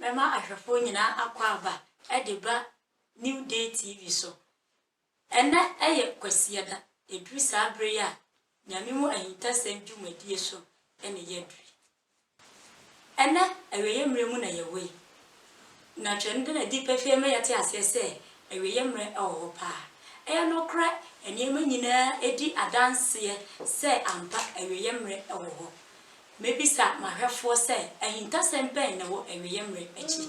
Mɛma ahwɛfoɔ nyinaa akwaaba de ba New Day TV so. Ɛnnɛ yɛ Kwasiada, ɛduru saa berɛ yi a Nyame mu ahintasɛm dwumadie so na yɛaduru yi. Ɛnnɛ awieɛ mmerɛ mu na yɛwɔ yi, na Twerɛ no da no adi pefee ma yɛte aseɛ sɛ awieɛ mmerɛ wɔ hɔ paa. Ɛyɛ nokorɛ, nneɛma nyinaa di adanseɛ sɛ ampa awieɛ mmerɛ wɔ hɔ. Mebisa m'ahwɛfoɔ sɛ, Ahintasɛm bɛn na ɛwɔ awieeɛ mmerɛ akyi?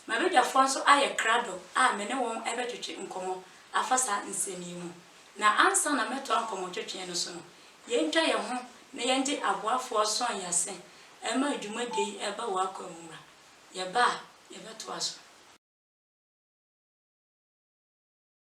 M'abadwafoɔ nso ayɛ krado a me ne wɔn rebɛtwetwe nkɔmmɔ afa saa nsɛm yi ho. Na ansa na mɛtoa nkɔmmɔtwetweɛ no so no, yɛntwa yɛn ho na yɛngye aboafoɔ ason yi ase mma dwumadie yi reba wɔn akwan mu mmra. Yɛba a, yɛbɛtoa so.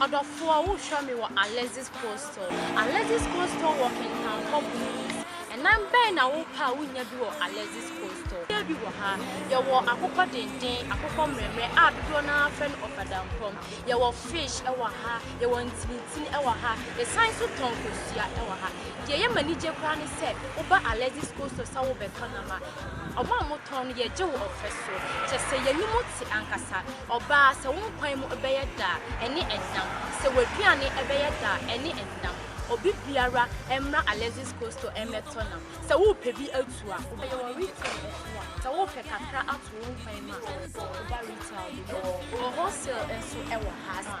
Ɔdɔfoɔ, wohwɛ me wɔ Alexis Coastal. Alexis Coastal wɔ Kintankwa Blues. Ɛnam bɛn na wopɛ a wonnya bi wɔ Alexis Coastal? Yɛwɔ bi wɔ ha. Yɛwɔ akokɔ denden, akokɔ mmerɛmmerɛ a dodoɔ no ara frɛ no ɔfadampɔm. Yɛwɔ fish wɔ ha. Yɛwɔ ntinitini wɔ ha. Yɛsan nso tɔn kosua wɔ ha. Deɛ ɛyɛ m'anigye koraa ne sɛ, woba Alexis Coastal sɛ worebɛtɔ nam a, Ɔba a motɔn no, yɛgye wo ɔfɛ so. Kyɛ sɛ yɛanim te ankasa. Ɔba a, sɛ wo nkwan mu bɛyɛ dɛ a, ɛne ɛnam. Sɛ w'aduane bɛyɛ dɛ a, ɛne ɛnam. Obi biara mmra Alexis Coastal mmɛtɔ nam. Sɛ worepɛ bi atu a, wobɛyɛ wɔ retail nso a, sɛ worepɛ kakra ato wo nkwan mu a, woba retail, wɔ hɔ. Wholesale nso wɔ ha.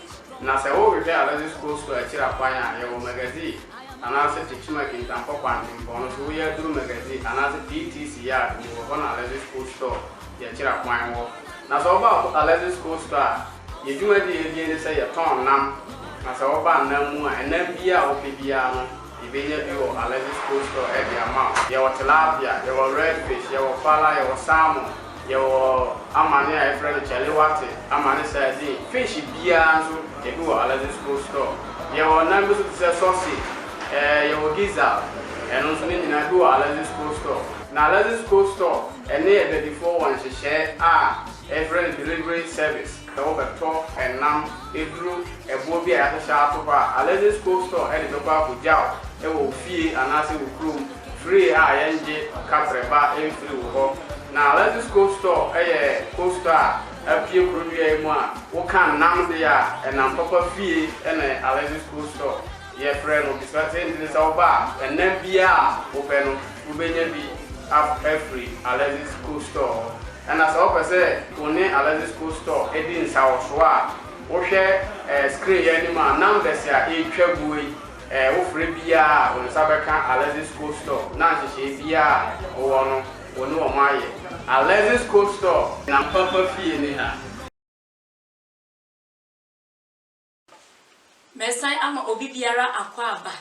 Na sɛ worehwɛ Alexis Coastal akyiri akwan a, yɛwɔ Magazine anaasɛ Tekyim Akintampɔ Kwantempɔn no so, woyɛ aduru Magazine anaasɛ PTC Yard mu wɔ hɔ na Alexis Coastal deɛ akyiri akwan wɔ. Na sɛ woba Alexis Coastal a, yɛn dwumadie a yɛdie ne sɛ yɛtɔn nam, na sɛ woba nam mu a, nam biara a wopɛ biara no, Yebenya bi wɔ Alexis Cold Store de ama wo. Yɛwɔ tilapia, yɛwɔ red fish, yɛwɔ fala, yɛwɔ salmon, yɛwɔ amane a yɛfrɛ no chaliwate, amane sardine, fish biara nso ebi wɔ Alexis Cold Store. Yɛwɔ nam bi nso te sɛ sausage, ɛɛ yɛwɔ gizzard, ɛno nso ne nyinaa ebi wɔ Alexis Cold Store. Na Alexis Cold Store ne Abadifoɔ wɔ nhyehyɛe a yɛfrɛ no delivery service. Sɛ wobɛtɔ nam, aduro, ɛboɔ bi a yɛahyehyɛ ato hɔ a, Alexis Cold Store de bɛkɔ akɔgyaw wɔ wo fie anaasɛ wo kurom free a yɛngye kaprɛba mfiri wo hɔ. Na Alexis Cold Store yɛ cold store a apue kuro dua yi mu a, woka nam deɛ a, ɛnam papa fie na Alexis Cold Store. Yɛfrɛ no Israel-Tenten sɛ ɔba a, ɛnã biara a wopɛ no, wubenya bi afiri Alexis Cold Store hɔ. Ɛnna sɛ wopɛ sɛ wo ne Alexis Cold Store di nsawɔso a, wohwɛ screen yi anim a, numbers a ɛretwa guo yi, wofrɛ biara a, wo nsa bɛka Alexis Cold Store, na nhyehyɛe biara a wowɔ no, wo ne wɔn ayɛ. Alexis Cold Store, Nampapa fie ne ha. Mɛsan ama obi biara akwaaba,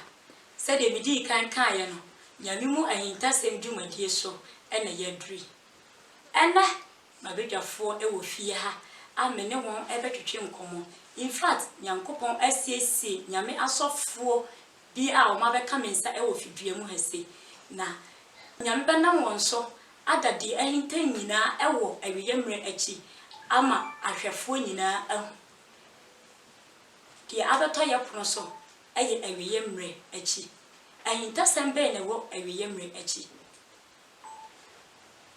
sɛdeɛ medii kan kaeɛ no, Nyame mu ahintasɛm dwumadie so na yɛaduru yi. Ɛnnɛ, m'abadwafoɔ wɔ fie ha a me ne wɔn bɛtwetwe nkɔmmɔ. In fact, Nyankopɔn asiesie Nyame asɔfoɔ bi a wɔabɛka me nsa wɔ fidua mu ha sei, na Nyame bɛnam wɔn so ada deɛ ahinta nyinaa wɔ awieɛ mmerɛ akyi ama ahwɛfoɔ nyinaa ahu. Deɛ abɛtɔ yɛ pono so yɛ awieɛ mmerɛ akyi. Ahintasɛm bɛn na ɛwɔ awieɛ mmerɛ akyi?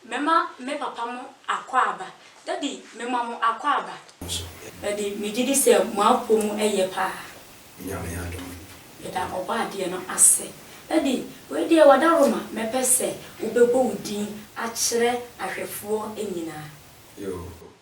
Mɛma me papa mo akwaaba. Daddy, mema mo akwaaba. Daddy, megye di sɛ mo apɔ mu yɛ paa. Meda Ɔbɔadeɛ no ase. Daddy, wei deɛ wadaroma. Mɛpɛ sɛ wobɛbɔ wo din akyerɛ ahwɛfoɔ nyinaa.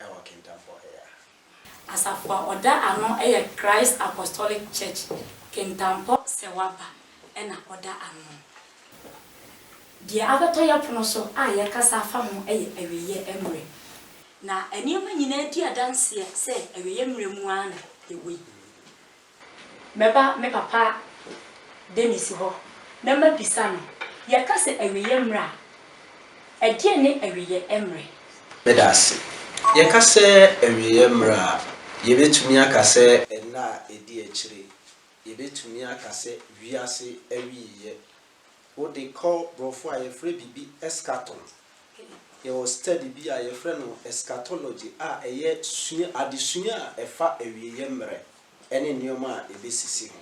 wɔ Kintampo Ɔyea. Asafo a ɔda ano yɛ Christ Apostolic Church Kintampo Sewaba na ɔda ano. Deɛ abɛtɔ yɛn pono so a yɛrekasa afa ho yɛ awieeɛ mmerɛ. Na nneɛma nyinaa di adanseɛ sɛ awieeɛ mmerɛ mu ara na yɛwɔ yi. Mɛba me papa Dennis hɔ na mabisa no. Yɛka sɛ awieɛ mmerɛ a, ɛdeɛn ne awieɛ mmerɛ? Meda ase. Yɛka sɛ awieɛ mmerɛ a, yɛbɛtumi aka sɛ nna a ɛdi akyire. Yɛbɛtumi aka sɛ wiase awieɛ Wode kɔ brɔfo a yɛfrɛ biribi eschaton. Yɛwɔ study bi a yɛfrɛ no eschatology a ɛyɛ sua adesua a ɛfa awieɛ mmerɛ ɛne nneɛma a ɛbɛsisi ho.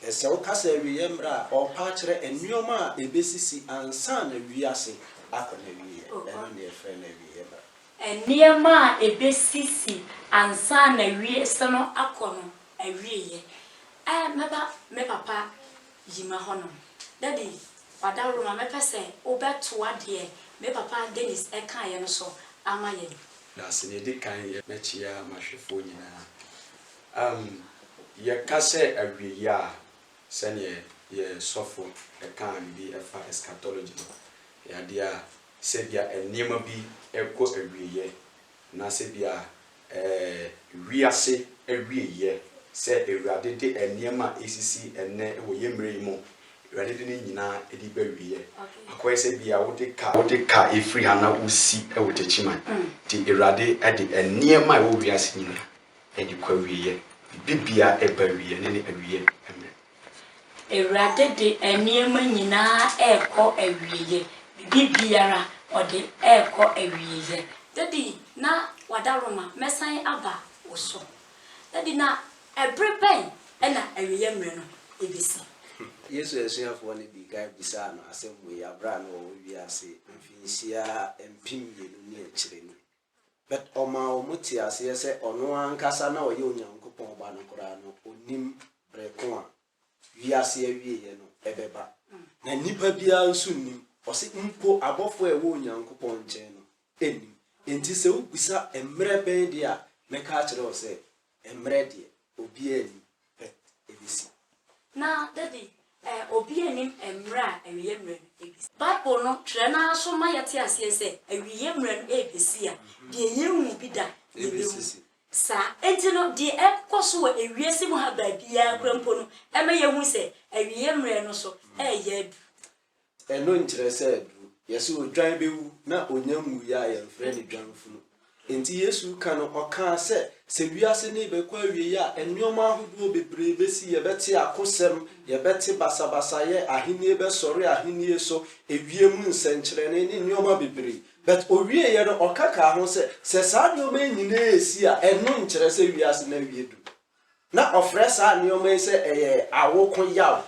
Ɛsɛ woka sɛ awieɛ mmerɛ a ɔɔpa akyerɛ nneɛma a ɛbɛsisi ansa na wiase akɔ n'awieɛ. Ɛno na yɛfrɛ no awieɛ mmerɛ. Nneɛma a ɛbɛsisi ansa na wiase no akɔ no awieɛ. Ɛɛ me ba, me papa, Yima hɔ nom. Dabi, Wadawuroma, mɛpɛ sɛ wobɛtoa deɛ me papa Dennis kaeɛ no so ama yɛn. Na sɛ nea ɛdi kan yɛ, mɛkyea m'ahwɛfoɔ nyinaa. Am, yɛka sɛ awieeɛ a, sɛdeɛ yɛn sɔfo kaa biribi fa eschatology no, ɛyɛ adeɛ a sɛ ebia nneɛma bi rekɔ awieeɛ Na sɛ bia ɛɛ wiase awieɛ sɛ Awurade de nneɛma a ɛsisi ɛnnɛ wɔ yɛn mmerɛ yi mu, Awurade de ne nyinaa ɛde ba awieɛ. Akɔyɛ sɛ bia wode car wode car ɛfiri ha na wosi wɔ Takyiman. Nti Awurade de nneɛma a ɛwɔ wiase nyinaa ɛde kɔ awieɛ. Biribiara ɛba awieɛ, ɛnnɛ ne awieɛ mmerɛ. Awurade de nneɛma nyinaa rekɔ awieɛ, biribiara ɔde rekɔ awieɛ. Daddy na wadaroma mɛsan aba wo so Daddy na ɛbere bɛn na awieɛ mmerɛ no ɛbɛsi. Yesu asuafoɔ no dii kan bisaa no asɛm wei berɛ a na ɔwɔ wiase mfinhyia mpem mmienu ne akyire no. But ɔmaa wɔn tee aseɛ sɛ ɔno ankasa na ɔyɛ Onyankopɔn Ba no koraa no, ɔnnim berɛ ko a wiase awieɛ no bɛba. Na nipa biara nso nnim. Ɔse mpo abɔfoɔ a ɛwɔ Onyankopɔn nkyɛn no nnim. Enti sɛ wobisa mmerɛ bɛn deɛ a, mɛka akyerɛ wo sɛ, Mmerɛ deɛ, obiara nnim pɛ ɛbɛsi. Na da bi, eh, obiara nnim mmerɛ a awieɛ mmerɛ no ɛbɛsi. Bible no twerɛ no ara so ma yɛte aseɛ sɛ awieɛ mmerɛ no ɛrebɛsi a, deɛ yɛnhuu bi da, yɛbɛhu. Saa enti no, deɛ ɛrekokɔ so wɔ ewiase mu ha baabiara koraa mpo no, ɛma yɛhu sɛ awieɛ mmerɛ no so ɛreyɛ aduru. Ɛno nkyerɛ sɛ aduru. Yɛse odwan bɛwu na ɔnya nwuiɛ a yɛmfrɛ no dwanfunu. Enti Yesu reka no ɔkaa sɛ, sɛ wiase no rebɛkɔ awieɛ a, nnoɔma ahodoɔ bebree bɛsi, yɛbɛte akosɛm, yɛbɛte basabasayɛ, ahennie bɛsɔre ahennie so, ewiem nsɛnkyerɛnne ne nnoɔma bebree. But ɔwieeɛ no ɔka kaa ho sɛ, sɛ saa nnoɔma yi nyinaa resi a, ɛno nkyerɛ sɛ wiase no awie duru. Na ɔfrɛ saa nnoɔma yi sɛ ɛyɛ awoko yaw,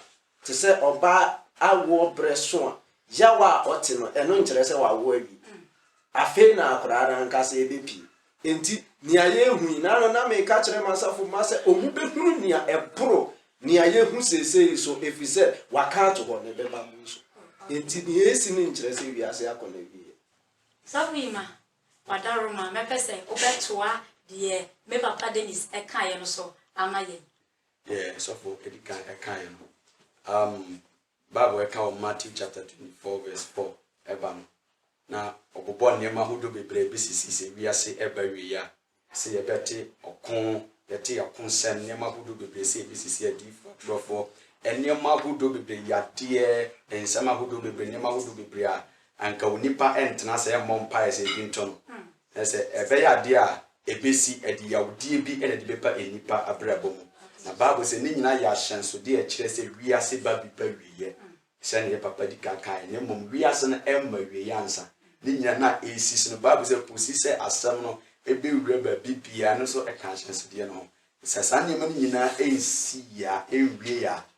Te sɛ ɔbaa awoɔ berɛ so a, yaw a ɔte no, ɛno nkyerɛ sɛ wawo awie. Afei na akwadaa no ankasa rebɛpue. Enti, nea yɛrehu yi, na no na mereka kyerɛ m'asafo mma sɛ wɔbɛhunu nea ɛboro nea yɛhu seesei yi so, ɛfiri sɛ wɔaka ato hɔ, na ɛbɛba mo nso. Enti, nea ɛresi no nkyerɛ sɛ wiase akɔ n'awieeɛ. Sɔfo Yima, Wadaroma, mɛpɛ sɛ wobɛtoa deɛ me papa Dennis kaeɛ no so ama yɛn. Deɛ sɔfo adi kan ɛkaeɛ no um bible ɛka wɔ Matthew chapter 24 verse 4 ɛba no na ɔbobɔ nneɛma ahodoɔ bebree ɛbɛsisi sɛ wiase ɛba wie a sɛ yɛbɛte ɔko yɛte ɔko nsɛm nneɛma ahodoɔ bebree sɛ ɛbɛsisi adiifoɔ atorɔfoɔ nneɛma ahodoɔ bebree yadeɛ nsɛm ahodoɔ bebree nneɛma ahodoɔ bebree a anka onipa ɛntena sɛ ɛmmɔ mpaeɛ sɛ ebi nto no Na sɛ ɛbɛyɛ adeɛ a ɛbɛsi a, ɛde yawdie bi na ɛde bɛpa nnipa abrabɔ mu. Na Bible sɛ ne nyinaa yɛ ahyɛnsodeɛ a ɛkyerɛ sɛ wiase ba bi ba awieɛ, sɛdeɛ yɛ papa di kan kaeɛ no, mmom wiase no mma awieɛ ansa. Ne nyinaa no a ɛresisi no, Bible sɛ kɔsi sɛ asɛm no bɛwura baabi biara no nso ka ahyɛnsodeɛ no ho. Sɛ saa nneɛma no nyinaa nsiiɛ a, ɛnwieeɛ a,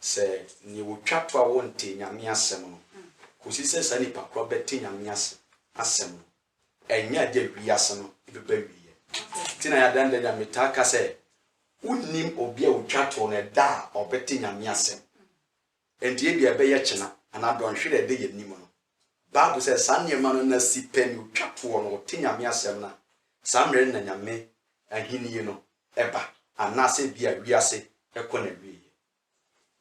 Sɛ nea wotwa to a wɔntee Nyame asɛm no kosi sɛ saa nipa koro bɛte Nyame ase asɛm no, ɛnyɛ ade a wiase no bɛba awieɛ. Nti na yɛadan da Nyame taa ka sɛ wonnim obi a otwa to no ɛda a ɔbɛte Nyame asɛm. Nti ebia ɛbɛyɛ kyena anaa dɔnhwere a ɛda yɛn anim no, Bible sɛ saa nneɛma no na si pɛ ne otwa toɔ na ɔte Nyame asɛm no a, saa mmerɛ no na Nyame ahennie no ba, anaasɛ ebia wiase kɔ n'awieɛ.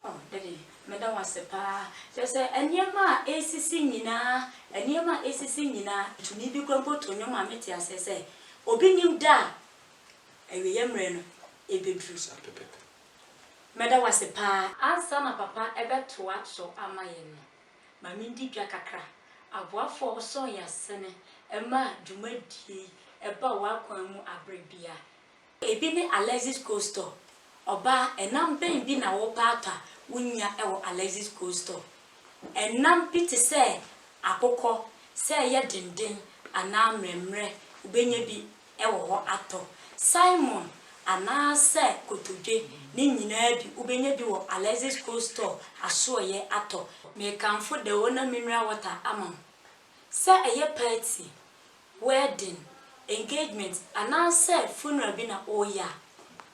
Oh daddy meda wo ase paa kyerɛ sɛ nneɛma a ɛresisi nyinaa nneɛma a ɛresisi nyinaa tumi bi koraa mpo to nnwom ma mete aseɛ sɛ obi nim da a awieɛ mmerɛ no ɛbɛduru Saa pɛpɛpɛ. meda wo ase paa. Ansa na papa bɛtoa so ama yɛn no, ma mindi dwa kakra. Aboafo a wɔsɔɔ yɛn ase no maa dwumadie yi baa wɔn akwan mu bere biara. Ebi ne Alexis Coastal. Ɔbaa, ɛnam bɛn bi na wopɛ atɔ a wunnya wɔ Alexis Coastal? Ɛnam bi te sɛ akokɔ, sɛ ɛyɛ denden anaa mmerɛmmerɛ, wubenya bi wɔ hɔ atɔ. Salmon anaasɛ kotodwe, ne nyinaa bi, wobɛnya bi wɔ Alexis Cold Store asoɛeɛ atɔ. Mekamfo the ona mineral water ama wo. Sɛ ɛyɛ party, wedding, engagement anaasɛ funeral bi na woreyɛ a,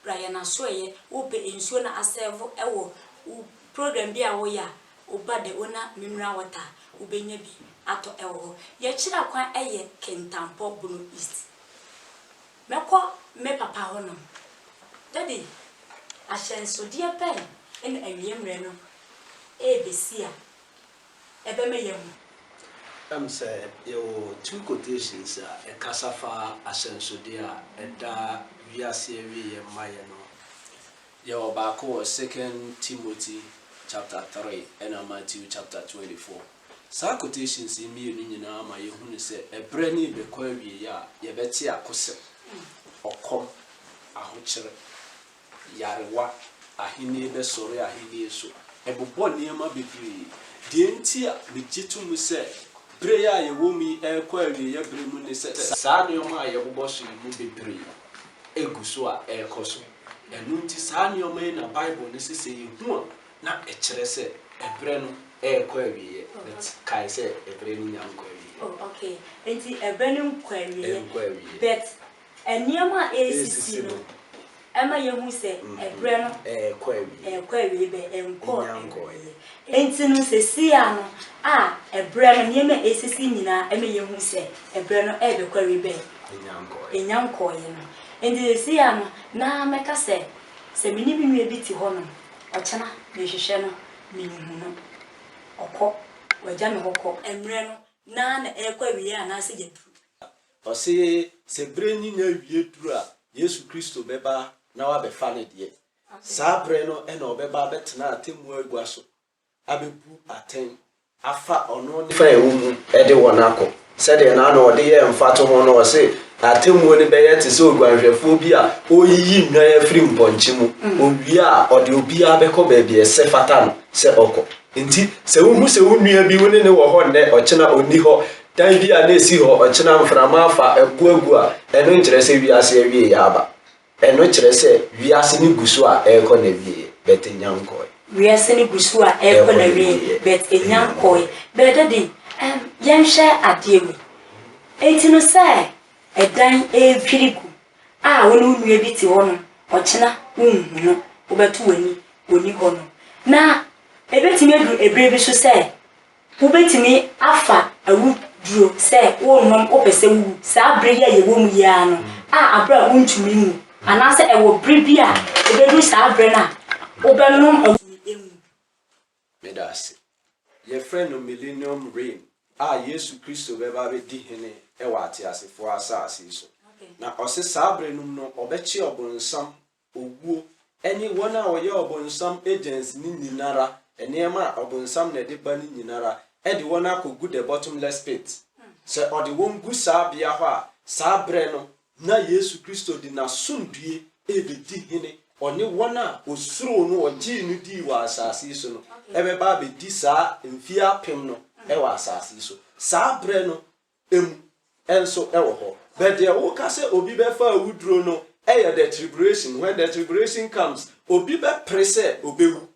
bra yɛn asoɛeɛ. Wopɛ nsuo na asɛɛvo wɔ wo program bi a woreyɛ a, Wo ba de wo na mineral water wobɛnya bi atɔ ɛwɔ hɔ yɛkyerɛ kwan ɛyɛ kintampɔ bono east mɛkɔ me papa hɔ nom daddy ahyɛnsodeɛ bɛn ɛna awiemrɛ no ɛɛbɛsi a ɛbɛma yɛahu. Ɛm sɛ yɛwɔ two quotations a ɛkasa fa ahyɛnsodeɛ a ɛda wiase awieɛ ma yɛ no ho. Yɛwɔ baako wɔ Second Timothy chapter three ɛna Matthew chapter twenty four. Saa quotations yi mmienu nyinaa ma yɛhunu sɛ ɛberɛ no rebɛkɔ awieɛ a yɛbɛte akosɛm, ɔkɔm, ahokyere, yarewa, ahennie bɛsɔre ahennie so, ɛbobɔ nneɛma bebree. Deɛ nti a megye to mu sɛ berɛ yi a yɛwɔ mu yi rekɔ awieɛ berɛ mu ne sɛ saa nneɛma a yɛbobɔ so yi mu bebree gu so a ɛrekɔ so. Ɛno nti, saa nneɛma yi na Bible no se sɛ yehu a, na ɛkyerɛ sɛ ɛberɛ no rekɔ awieɛ. But kae sɛ ɛberɛ no nnya nkɔ awieɛ. Oh, okay. Enti ɛberɛ no nkɔ awieɛ. Ɛnkɔ awieɛ. But nneɛma a ɛresisi no, ɛma yehu sɛ ɛberɛ no. Ɛrekɔ awieɛ. Ɛrekɔ awieɛ, but ɛnkɔɔ awieɛ. Ɛnnya nkɔeɛ. Enti no, seeseiaa no a ɛberɛ no, nneɛma a ɛresisi nyinaa ɛma yehu sɛ ɛberɛ no rebɛkɔ awieɛ, but. Ɛnnya nkɔeɛ. Ɛnnya nkɔeɛ no. Enti seesei no, na mɛka sɛ, sɛ me ne me nua bi te hɔnom, ɔkyena, mehwehwɛ no, minhu no. Ɔkɔ, wagya me hɔ kɔ. Mmerɛ no, na na ɛrekɔ awieeɛ anaasɛ yɛaduru. Ɔse, sɛ berɛ nyina awie duru a, Yesu Kristo bɛba na wabɛfa Ne deɛ. Saa berɛ no na Ɔbɛba abɛtena atemmuo agua so abebu atɛn afa ɔno ne fa a ɛwɔ mu de wɔn akɔ. Sɛdeɛ na na ɔde yɛ mfatoho no, ɔse, Atemmuo no bɛyɛ te sɛ odwanhwɛfoɔ bi a ɔreyiyi nnwan afiri mpɔnkye mu, ɔwie a ɔde obiara bɛkɔ baabi a ɛsɛ fata no sɛ ɔkɔ. Enti sɛ wohu sɛ wo nua bi, wo ne no wɔ hɔ nnɛ, ɔkyena ɔnni hɔ, dan bi a na ɛsi hɔ, ɔkyena mframa afa, ɛpo agu a, ɛno nkyerɛ sɛ wiase awieɛ aba. Ɛno kyerɛ sɛ wiase no gu so a ɛrekɔ n'awieɛ, but ɛnya nkɔɔe. Wiase no gu so a ɛrekɔ n'awieɛ, but ɛnya nkɔɔe. But daddy, ɛm, yɛnhwɛ adeɛ wei. Enti no sɛ ɛdan ɛredwiri gu a wo ne wo nua bi te hɔ nom, ɔkyena wonhu no, wobɛto w'ani, ɔnni hɔ nom. Na ɛbɛtumi aduru ɛberɛ bi nso sɛ Wobɛtumi afa awuduro sɛ worenom wopɛ sɛ wowu saa bere yi a yɛwɔ mu yi ara no a aberɛ a wontumi nwu anaasɛ ɛwɔ bere bi a ɛbɛduru saa berɛ no a wobɛnom awuduro. Meda ase. Yɛfrɛ no Millennium Reign a Yesu Kristo bɛba abɛdi hene wɔ ateasefoɔ asase so. Na ɔse saa bere nom no ɔbɛkye ɔbonsam owuo, ɛne wɔn a wɔyɛ ɔbonsam agents no nyinara, nneɛma a ɔbonsam na ɛde ba no nyinara, ɛde wɔn akɔ gu the bottomless pit. Sɛ ɔde wɔn gu saa bea hɔ a, saa berɛ no na Yesu Kristo de N'asomdue rebɛdi hene, ɔne wɔn a ɔsuroo no, ɔgyee no dii wɔ asase yi so no bɛba abɛdi saa mfie apem no wɔ asase yi so. Saa berɛ no. mu nso wɔ hɔ. But deɛ woka sɛ obi bɛfa awuduro no yɛ the triburation, when the triburation comes, obi bɛpere sɛ ɔbɛwu.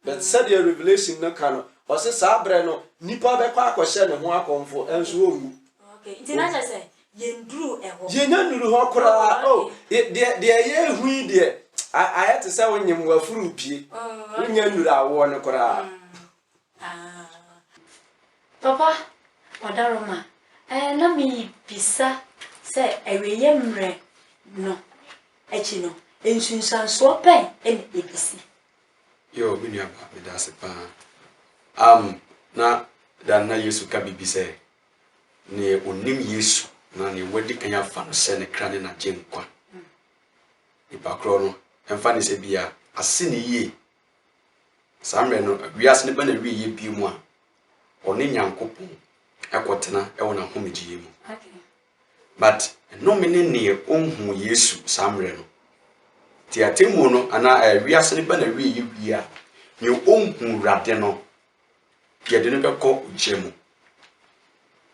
But sɛdeɛ Revelation no ka no, ɔse saa berɛ no nipa bɛkɔ akɔhyɛ ne ho akɔmfo nso ɔnwu. Okay, nti na kyerɛ sɛ yɛnduru hɔ? Yɛnya nnuru hɔ koraa. Oh, okay. Oh, deɛ deɛ ɛyɛ ehu yi deɛ, ayɛ te sɛ wonyem w'afuru pie. Oh, okay. Wonya nnuru awoɔ no koraa. Mm. Ah papa Ɔdaroma eh na mebisa sɛ awieɛ mmerɛ no akyi no nsunsuansoɔ bɛn na ɛbɛsi? Yoo me nua ba meda ase paa am na da no na Yesu ka biribi sɛ neɛ ɔnim Yesu anaa neɛ wadi kan afa no sɛ ne kra ne n'agyenkwa nipa korɔ no ɛmfa ne sɛ bia ase ne yie Saa mmerɛ no, wiase no bɛ n'awieɛ bio mu a ɔne Nyankopɔn kɔtena wɔ n'ahomegyeɛ mu. But nnome ne neɛ ɔnhuu Yesu saa mmerɛ no. Nti atemmuo no anaa ɛɛ wiase no bɛ n'awieɛ wie a, neɛ ɔnhuu Awurade no, yɛde no bɛkɔ ogya mu.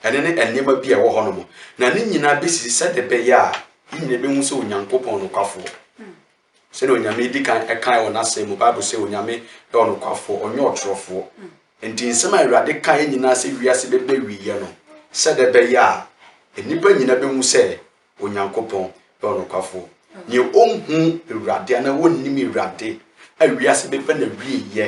Ɛne ne nneɛma bi a ɛwɔ hɔnom. Na ne nyinaa bɛsisi sɛdeɛ ɛbɛyɛ a ne nyinaa bɛhu sɛ Onyankopɔn nokwafoɔ. Sɛdeɛ Onyame di kan kaeɛ wɔ N'Asɛm mu, Bible sɛ, Onyame yɛ ɔnokwafoɔ, ɔnyɛ ɔtorofoɔ. Enti nsɛm a Awurade kaeɛ nyinaa sɛ wiase bɛba awieɛ no, sɛdɛ bɛyɛ a nnipa nyina bɛhu sɛ Onyankopɔn yɛ ɔnokwafoɔ. Neɛ ɔnhuu Awurade anaa ɔnnim Awurade a wiase bɛba n'awieɛ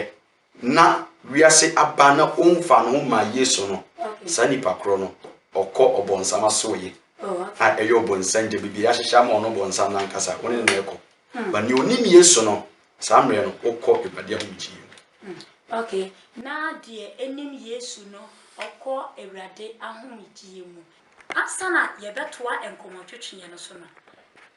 na wiase aba na ɔmfa ne ho ma Yesu no, saa nipa korɔ no, ɔkɔ ɔbɔnsam asoɔyɛ. Oh, a ɛyɛ ɔbɔnsam gya biribi ahyehyɛ ama ɔno ɔbɔnsam no ankasa, wɔne no na ɛkɔ. Hmm. Ba nea ɔnim Yesu no, saa mmerɛ no, ɔkɔ Awurade ahomegyeɛ mu. Hmm. Okay. Na deɛ ɛnim Yesu no, ɔkɔ Awurade ahomegyeɛ mu. Ansa na yɛbɛtoa nkɔmmɔtwetweɛ no so no,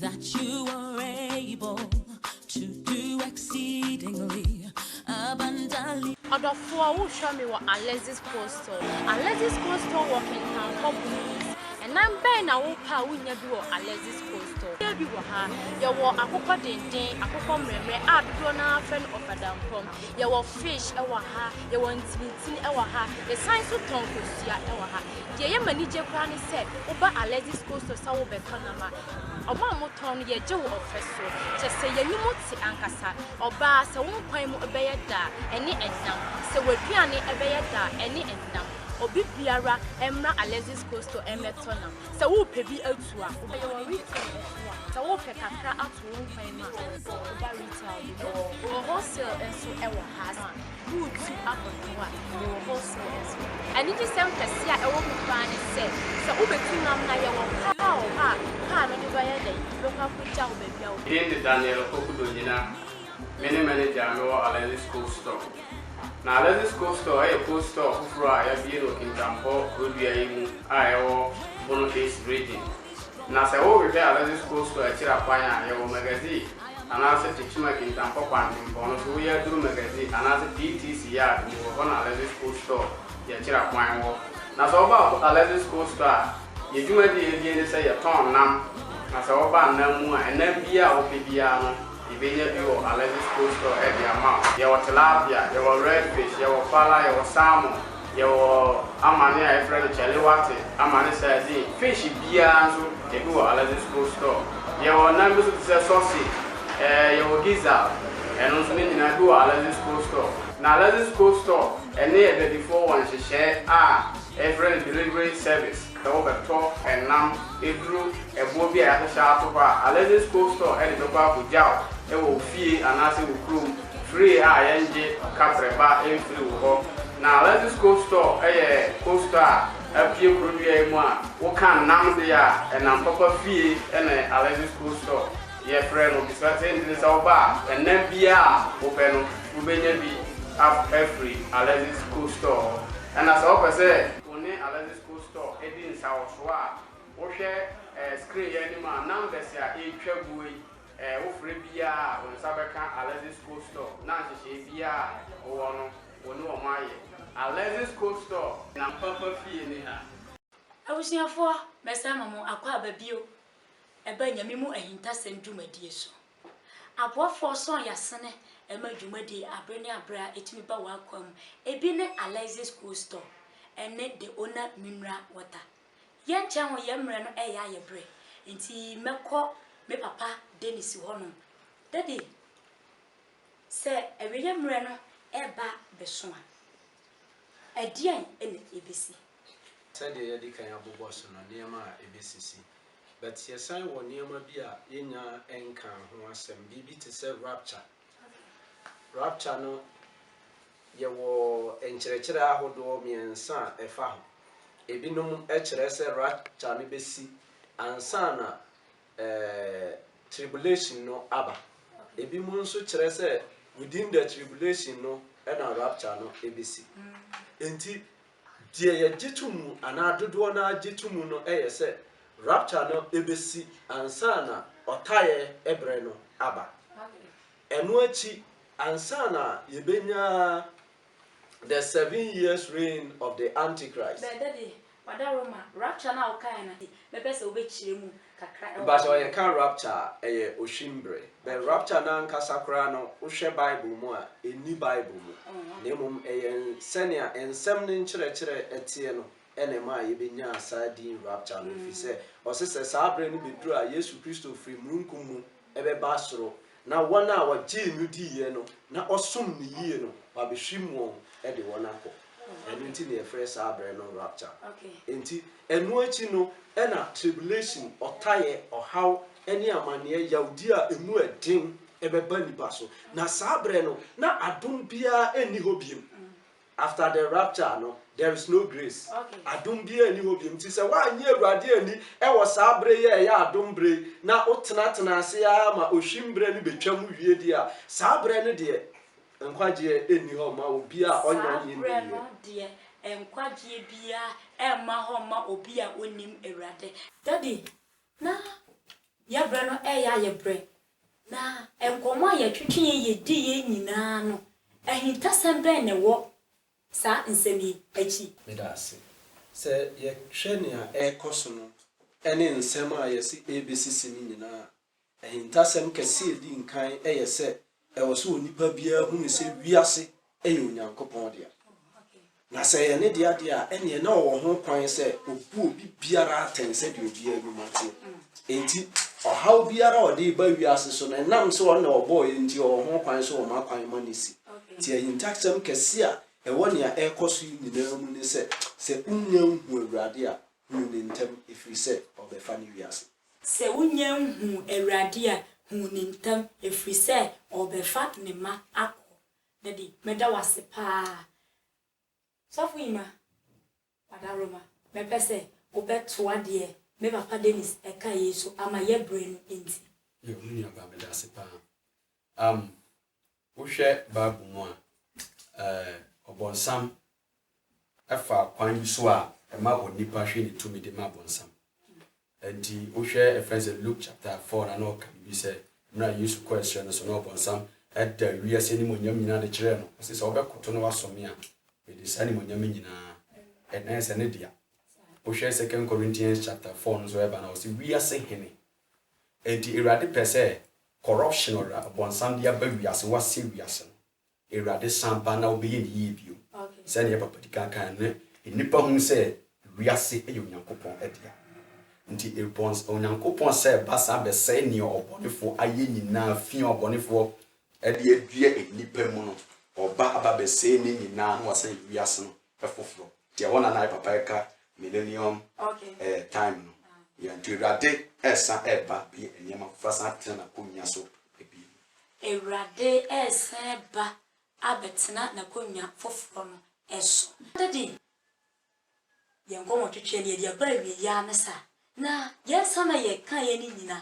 That you are able to do exceedingly abundantly. Ɔdɔfoɔ, wohwɛ me wɔ Alexis Coastal. Alexis Coastal wɔ Kintankwa Blues. Ɛnam bɛn na wopɛ a wonnya bi wɔ Alexis Coastal? Yɛ bi wɔ ha. Yɛwɔ akokɔ denden, akokɔ mmerɛmmerɛ a dodoɔ no ara frɛ no ɔfadampɔm. Yɛwɔ fish wɔ ha. Yɛwɔ ntinitini wɔ ha. Yɛsan nso tɔn kosua wɔ ha. Deɛ ɛyɛ me anigye koraa ne sɛ woba Alexis Cold Stores a wobɛtɔ nam a, wɔn a wɔtɔn no yɛgye wo ɔfɛ so. Kyerɛ sɛ y'anim te ankasa. Ɔbaa sɛ wo nkwan mu bɛyɛ dɛ a, ɛne ɛnam. Sɛ w'aduane bɛyɛ dɛ a, ɛne ɛnam. Obi biara mmra Alexis Cold Store mmɛtɔ nam. Sɛ wopɛ bi atu a, wobɛtɔ. Yɛwɔ retail nso a, sɛ wopɛ kakra ato wo nkwan mu a, woba retail bi mu. Wɔ wholesale nso wɔ ha. Woretu abɔnten a yɛwɔ hɔ so nso. Anigyesɛm kɛse a ɛwɔ ho paa ne sɛ, sɛ wubetu nam na yɛwɔ kar a wɔ hɔ a kar no de bɛyɛ dɛn bɛkɔ akogyaw wo baabi a wopɛ. Din de Daniel Opokudo Nyina. Me ne manager a mewɔ Alexis Cold Store. Na Alexis Cold Store yɛ cold store foforo a yɛabue no wɔ Kintampo kuro dua yi mu a ɛwɔ Bono East Region. Na sɛ worehwɛ Alexis Coastal akyiri akwan a, yɛwɔ Magazine anaase Tekyima Kintampo Kwantempɔn no so, woyɛ aduru Magazine anaase PTC Yard mu wɔ hɔ na Alexis Coastal yɛ akyiri akwan wɔ. Na sɛ woba Alexis Coastal a, yɛ dwumadi a yɛdie ne sɛ yɛtɔn nam, na sɛ woba nam mu a, nam biaa a wopɛ biaa no, Yɛbɛnya bi wɔ Alexis Cold Store de ama wo. Yɛwɔ tilapia, yɛwɔ red fish, yɛwɔ fala, yɛwɔ salmon, yɛwɔ amane a yɛfrɛ no chaliwati, amane sardine, fish biara nso ebi wɔ Alexis Cold Store. Yɛwɔ nam bi nso te sɛ sausage, ɛɛ yɛwɔ gizzard, ɛno nso ne nyinaa ebi wɔ Alexis Cold Store. Na Alexis Cold Store ne adwadifoɔ wɔ nhyehyɛe a yɛfrɛ no delivery service. sɛ wɔbɛtɔ nam aduru ɛboɔ bi a yɛahyehyɛ ato hɔ a Alexis Cold Store de bɛkɔ akɔgyaw wɔ wo fie anaasɛ wo kurom free a yɛngye katrɛba mfiri wo hɔ. Na Alexis Cold Store yɛ cold store a apue kurodua yi mu a woka nam deɛ a ɛnam papa fie na Alexis Cold Store yɛfrɛ no bisa tentene sɛ woba a ɛnam biara a wopɛ no wobɛnya bi afiri Alexis Cold Store hɔ ɛna sɛ wopɛ sɛ wo ne Alexis Wo store di nsa wɔ so a, wohwɛ eh screen yi anim a numbers a ɛretwa guo yi eh wofrɛ biara a wo nsa bɛka Alexis Cold Store na nhyehyɛe biara a wowɔ no wo ne wɔn ayɛ. Alexis Cold Store na mpampa fie ne ha. Abusuafoɔ, mɛsan ama mo akwaaba bio ɛba Nyame mu ahintasɛm dwumadie so. Aboafoɔ nso a yɛasene ma dwumadie abere ne abere a ɛtumi ba w'akwan mu, ebi ne Alexis Cool Store ne The Owner Mineral Water. Yɛnkyɛ ho yɛn mmerɛ no reyɛ ayɛ berɛ, nti mɛkɔ me papa Dennis hɔnom. Daddy, sɛ awieeɛ mmerɛ no reba bɛso a, ɛdeɛn na ɛbɛsi? Sɛdeɛ yɛadi kan abobɔ so no, nneɛma a ɛbɛsisi. But yɛsan wɔ nneɛma bi a yɛnnya nkaa ho asɛm, biribi te sɛ rapture. Rapture no, yɛwɔ nkyerɛkyerɛ ahodoɔ mmiɛnsa a ɛfa ho. Ebinom kyerɛ sɛ rapture no bɛsi ansa na eh, tribulation no aba. Ebinom nso kyerɛ sɛ within the tribulation no na rapture no bɛsi. Enti Deɛ yɛgye to mu anaa dodoɔ no ara gye to mu no yɛ sɛ rapture no bɛsi ansa na ɔtaeɛ berɛ no aba. Ɛno akyi, ansa na yɛbɛnya The Seven Years Reign of the Antichrist. Bɛda de, wada Roma rapture no a wokaeɛ no adi, bɛpɛ sɛ wobɛkyerɛ mu. kakra wɔ Mbaso hɔ. yɛka rapture a, ɛyɛ ohwi mbre. But rapture no ankasa koraa no, wohwɛ Bible mu a, enni Bible mu. Na mmom ɛyɛ sɛnea nsɛm no nkyerɛkyerɛ teɛ no na ɛmaa yebenyaa saa din rapture no, efisɛ ɔse sɛ saa bere no beduru a Yesu Kristo firi mununkum mu bɛba soro, na wɔn a wɔgyee no diiɛ no, na wɔsom no yie no, wɔabɛhwim wɔn de wɔn akɔ. Ɛno nti na yɛfrɛ saa berɛ no rapture. Enti, ɛno akyi no na tribulation, ɔtaeɛ, ɔhaw ne amanneɛ, yawdie a ɛmu yɛ den bɛba nnipa so. Na saa berɛ no, na adom biara nni hɔ bio. After the rapture no there is no grace adom biara nni hɔ biom nti sɛ woannye Awurade anni wɔ saa bere yi a ɛyɛ adom bere yi na wotenatena ase ara ma ohwim bere no betwam wie deɛ a saa bere no deɛ nkwagyeɛ nni hɔ mma obi a ɔnyɛ ɔnye nni yɛ. Saa bere no deɛ nkwagyeɛ biara mma hɔ mma obi a onnim Awurade. Daddy na yɛbrɛ no ɛyɛ a yɛbrɛ Na nkɔmmɔ a yɛtwetwee yediiɛ nyinaa no, ahintasɛm bɛn na ɛwɔ saa nsɛm yi akyi? Meda ase. Sɛ yɛhwɛ nea ɛrekɔ so no ne nsɛm a yɛse ɛrebesisi no nyinaa a, ahintasɛm kɛse a edi nkan yɛ sɛ ɛwɔ sɛ onipa biara hunu sɛ wiase yɛ Onyankopɔn dea. Na sɛ ɛyɛ ne dea deɛ a, ɛnneɛ na ɔwɔ ho kwan sɛ ɔbu obi biara atɛn sɛdeɛ obiara nnwuma teɛ. Enti, ɔhaw biara a ɔde reba wiase so no, ɛnam sɛ ɔno na ɔbɔɔ yɛn nti, ɔwɔ ho kwan sɛ ɔma kwan ma no asi. Enti ahintasɛm kɛse a ɛwɔ nea ɛrekɔ so yi nyinaa mu ne sɛ, sɛ wonnya nhuu Awurade a, hunu no ntɛm, ɛfiri sɛ ɔrebɛfa ne wiase. Sɛ wonnya nhuu Awurade a, hunu no ntɛm, ɛfiri sɛ ɔrebɛfa ne mma akɔ Daddy meda wase paa sɔfo yima wadawroma mɛpɛ sɛ wobɛ toa deɛ me papa Dennis ɛka yei so ama yɛ brɛ no nti. Yo me nuabaa medase paa am wohwɛ bible mu a ɛɛ ɔbɔnsam fa kwan bi so a ɛma onipa hwe ne tumidi ma Ɔbonsam. Enti wohwɛ ɛfrɛ no sɛ Luke chapter four na na ɔka biribi sɛ mmerɛ a Yesu kɔɔ ɛserɛ no so na Ɔbonsam da wiase animuonyam nyinaa de kyerɛɛ no, ɔse sɛ wobɛkoto na woasɔ me a, mede saa animuonyam yi nyinaa na ɛsɛ ne dea. Wohwɛ second Corinthians chapter four no nso ɛba no a ɔse wiase hene. Enti Awurade pɛ sɛ corruption ɔbonsam de aba wiase, woasɛe wiase no. Awurade san ba na ɔbɛyɛ no yie bio. Sɛdeɛ yɛn papa di kan kaeɛ no, nnipa hunu sɛ wiase yɛ Onyankopɔn dea. Nti bɔns Onyankopɔn sɛ ba san bɛsɛe nea ɔbɔnefoɔ ayɛ nyinaa, fi a ɔbɔnefoɔ de adua nnipa mu no, ɔba aba bɛsɛe ne nyinaa na wasan ayi wiase no foforo deɛ wɔn nana yɛ papa ɛka millennium eh time no yeah nti awurade ɛresan ɛreba bɛyɛ nneɛma foforo asan atena n'akonnwa so bio. Awurade ɛresan ba abɛtena n'akonnwa foforo no so. Daddy yɛn nkɔmɔtwetwe no yɛde aba awieɛ ara ne saa na yɛn nsa na yɛkaeɛ no nyina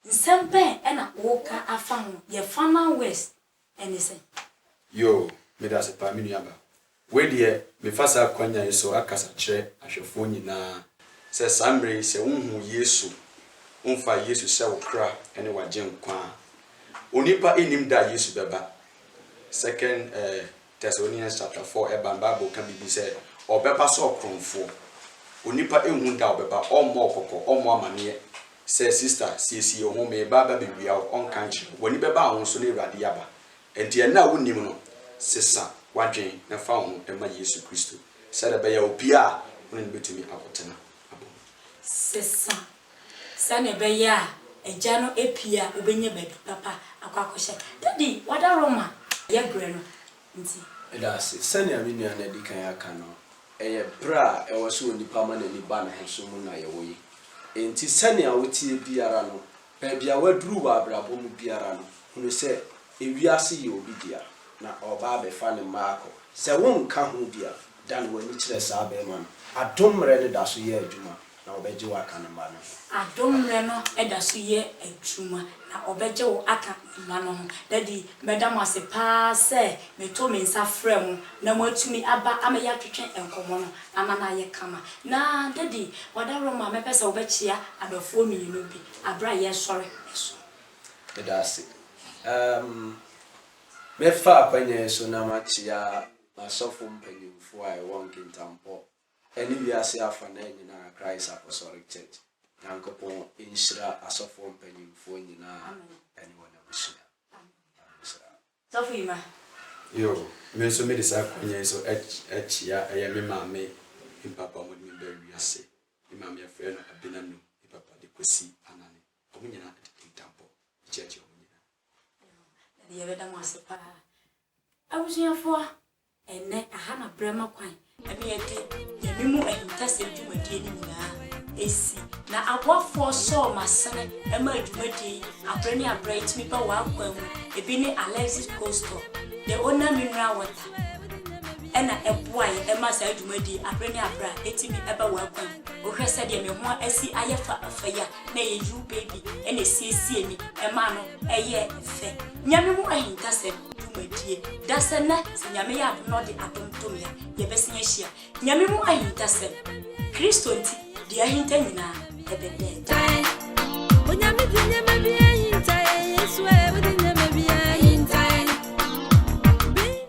Nsɛm bɛn na woka afa ho? Yɛ farmer worst ne sɛn? Yoo, medase paa me nuaba. Wei deɛ mefa saa akwanya yi so akasa kyerɛ ahwɛfoɔ nyinaa sɛ saa mmerɛ yi sɛ wonhuu Yesu, wonfaa Yesu sɛ wo kra ne w'agyenkwa a, onipa nnim da a Yesu bɛba, second Thessalonians chapter four ɛba no bible ka biribi sɛ ɔbɛba sɛ ɔkorɔmfoɔ, onipa nhu da a ɔbɛba, ɔmmɔ wo kɔkɔ, ɔmmɔ amaneɛ sɛ sister siesie wo ho mereba ba bɛwia wo, ɔnka nkyerɛ wo, w'ani bɛba wo ho so na awurade yi aba, ɛnti ɛnnɛ a wonnim no sesa w'adwene na fa wo ho ma Yesu Kristo sɛdeɛ ɛbɛyɛ a obiara a wone no bɛtumi akɔtena abom. Sesa Sɛnea ɛbɛyɛ a agya no apue a obenya baabi papa akɔ akɔhyɛ. Daddy, wada Roma yɛ brɛ no nti. Meda ase. Sɛnea me nua no adi kan aka no, ɛyɛ bere a ɛwɔ sɛ onipa ma n'ani ba ne ho so mu na yɛwɔ yi. Enti sɛnea woteɛ biara no, baabi a woaduru wɔ abrabɔ mu biara no, hunu sɛ wiase yɛ obi dea, na ɔreba abɛfa ne mma akɔ. Sɛ wonka ho bi a, dan w'ani kyerɛ saa barima no. Adom mmere no da so yɛ adwuma Na wɔbɛgye wo aka ne mma no ho. Adom mmerɛ no da so yɛ adwuma, na wɔbɛgye wo aka ne mma no ho. Dadi, mɛda mo ase pa ara sɛ metoo me nsa frɛɛ mo na moatumi aba ama yɛatwetwe nkɔmmɔ no ama no ayɛ kama. Na, Dadi, w'adaworoma a mɛpɛ sɛ wobɛkyea adɔfoɔ mmienu bi berɛ a yɛresɔre so. Meda ase. Ɛɛm, mɛfa akwanya yi so na makyea m'asɔfo mpanimfoɔ a ɛwɔ Nkintampɔ Ɛne wiase afanan nyinaa Christ Apostolic Church Nyankopɔn nhyira asɔfoɔ mpanyinfoɔ nyinaa ɛne wɔn abusua Nhyira. Sɔfo Emma. Yoo, me nso mede saa kwanya yi nso akyia ɛyɛ me maame me papa a wɔde me baa wiase. Me maame yɛfrɛ no Abena Num, me papa de Kwesi Anane. Wɔn nyinaa ɛde kintampɔ akyia kyia wɔn nyinaa. Daddy yɛbɛda mo ase paa. Abusuafoɔ, Ɛnnɛ, aha na berɛ ma kwan ma yɛde yɛn memo ahintasɛm dwumadie no nyinaa si, na aboafoɔ sɔɔ m'asene ma dwumadie yi aberɛ ne aberɛ ɛtumi ba w'akwan mu, ɛbi ne Alexis Coastal, The Ona Mineral Water ɛna ɛboa yɛn ma saa dwumadie yi aberɛ ne aberɛ a ɛtumi ba w'akwan mu. Wohwɛ sɛdeɛ me ho asi ayɛ fa fa yi a, na ɛyɛ you baby na ɛsiesiee me ɛmaa no ɛyɛɛ fɛ Nyame mu ahintasɛm dwumadie Dasɛ nnɛ sɛ Nyame yɛ adom na ɔde adom to me a Yɛbɛsan ahyia Nyame mu ahintasɛm Kristo nti deɛ ahinta nyinaa ɛbɛda adi Ae Onyame de nneɛma biara hinta yɛn Yesu ae wode nneɛma biara hinta yɛn Baby.